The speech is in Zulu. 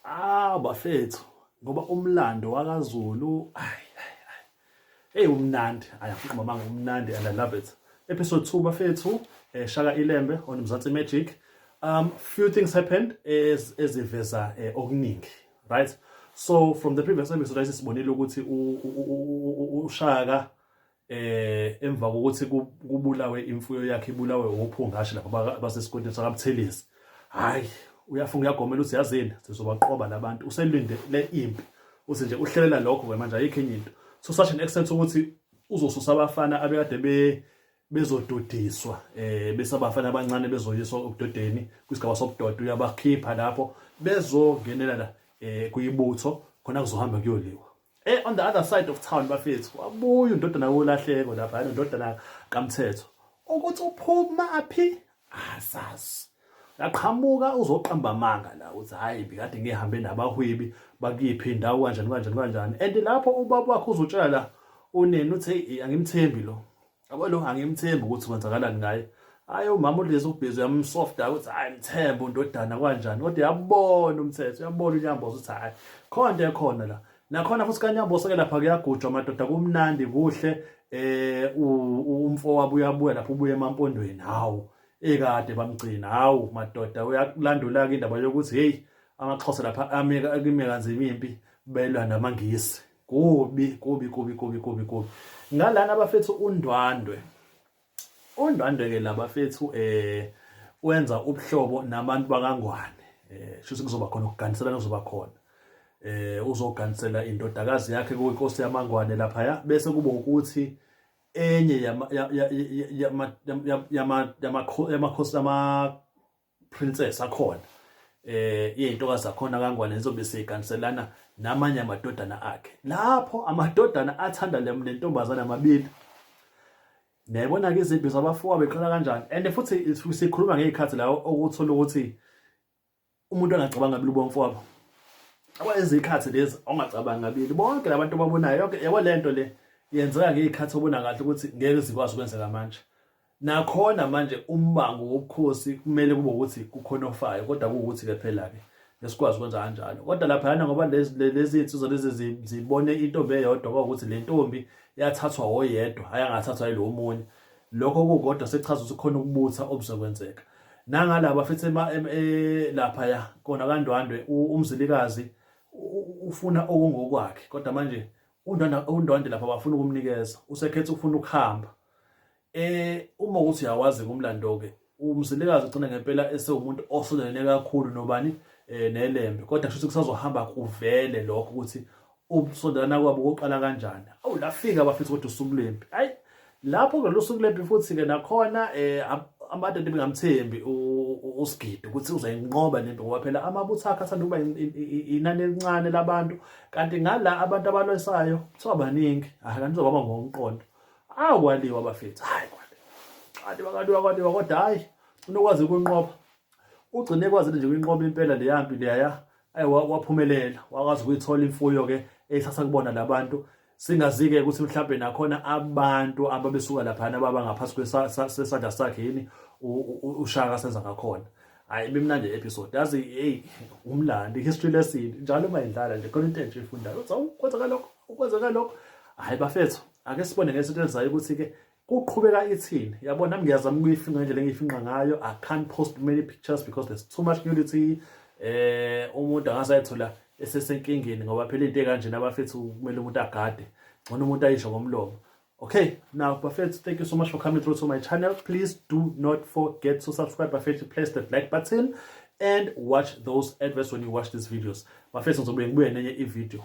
Ah bafethu ngoba umlando wakaZulu ay hey umnandi ayafuquma manga umnandi and I love it episode 2 bafethu eh, Shaka Ilembe on Mzansi Magic um few things happened as eziveza eh, okuningi right so from the previous episode sibonile ukuthi uShaka eh emva kokuthi kubulawe imfuyo yakhe ibulawe uphungashi lapha basesigodini sakaButhelezi hayi uyafunga uyagomela uthi yazini sizobaqoba labantu uselinde le impi uthi nje uhlelela lokho ke manje ayikho enye into so such an extent ukuthi uzosusa abafana abekade be bezododiswa eh bese abafana abancane bezoyiswa obudodeni kwisigaba sobudoda uyabakhipha lapho bezongenela la eh kuyibutho khona kuzohamba kuyoliwa Eh on the other side of town bafethu wabuya undodana wolahleko lapha nondodana kaMthetho ukuthi uphuma aphi asazi yaqhamuka uzoqamba amanga la uthi hayi bikade ngihambe nabahwebi bakiphi indawo kanjani kanjani kanjani and lapho ubaba wakho uzotshela la uneni uthi angimthembi lo yabo lo angimthembi ukuthi kwenzakalani ngaye hayi umama ulezi ubhizi uyamsofta ukuthi hayi mthembe undodana kwanjani kodwa uyabona umthetho uyabona unyamboza ukuthi hayi khona into ekhona la nakhona futhi kanyambosa ke lapha kuyagujwa madoda kumnandi kuhle eh umfo wabo uyabuya lapho ubuye emampondweni hawu ekade bamgcina hawu madoda uyakulandula ke indaba yokuthi hey amaxhosa lapha ameka kumeka kanzima impi belwa namangisi kubi kubi kubi kubi kubi kubi ngalana abafethu undwandwe undwandwe ke labafethu eh wenza ubuhlobo nabantu bakangwane eh shuthi kuzoba khona ukuganiselana kuzoba khona eh uzoganisela indodakazi yakhe kuyinkosi yamangwane lapha ya bese kuba ukuthi enye yama yama yama yama yamakhosi yama princess akhona eh izintokazi zakhona kangwane nizobe siganiselana namanye amadodana akhe lapho amadodana athanda lentombazana amabili niyayibona ke izimpi zabafowa beqala kanjani and futhi sikhuluma ngezikhathi la okuthola ukuthi umuntu angacabanga kabili ubomfowabo awayezikhathi lezi ongacabanga kabili bonke labantu babonayo yonke yabo lento le yenzeka ngezikhathi obona kahle ukuthi ngeke zikwazi ukwenzeka manje Nakhona manje umbango wobukhosi kumele kube ukuthi kukhona ofayo kodwa kuwukuthi-ke phela-ke esikwazi ukwenza kanjalo kodwa laphayana ngoba lezi nsizwa lezi zibone intombi eyodwa kwakuthi le ntombi yathathwa oyedwa hhayi angathathwa yilo omunye lokho kukodwa sekuchaza ukuthi khona ukubutha obuzokwenzeka nangalaba futhi e, laphaya kona kandwandwe umzilikazi ufuna okungokwakhe kodwa manje undwandwe lapha bafuna ukumnikeza usekhetha ukufuna ukuhamba Eh uma ukuthi uyawazi ngomlando ke umzilikazi ugcina ngempela esewumuntu osondelene kakhulu nobani eh nelembe kodwa kusho ukuthi kusazohamba kuvele lokho ukuthi ubusondelana kwabo koqala kanjani awu lafika bafisa ukuthi usuku lempi hayi lapho ke losuku lempi futhi ke nakhona eh abantu bengamthembi usigidi ukuthi uzayinqoba lento ngoba phela amabutho akhe athanda ukuba inani elincane labantu kanti ngala abantu abalwesayo kuthiwa baningi akanizobaba ngokomqondo awu kwaliwa bafethu hayi kwaliwa kwaliwa kwaliwa kodwa hayi unokwazi ukunqoba ugcine ekwazile nje kuyinqoba impela le yampi leya ayi waphumelela wakwazi ukuyithola imfuyo ke eyisasa kubona labantu singazike ukuthi mhlawumbe nakhona abantu ababesuka laphana baba ngaphansi kwesandla sakhe yini ushaka senza ngakhona hayi bimnandi episode yazi hey umlandi history lesson njalo uma indlala nje khona into entsha ifundayo uthi kwenzeka lokho kwenzeka lokho hayi bafethu ake sibone ngesonto elizayo ukuthi-ke kuqhubeka ithini yabo nami ngiyazama ukuyifinqa ngendlela engiyifinqa ngayo i can't post many pictures because there's too much nudity eh umuntu angasayithola esesenkingeni ngoba phela into ekanjena bafethu kumele umuntu agade ngcono umuntu ayisho ngomlomo okay now bafethu thank you so much for coming through to my channel please do not forget to subscribe bafethu press that like button and watch those adverts when you watch these videos bafethu ngizobuye ngibuye nenye ivideo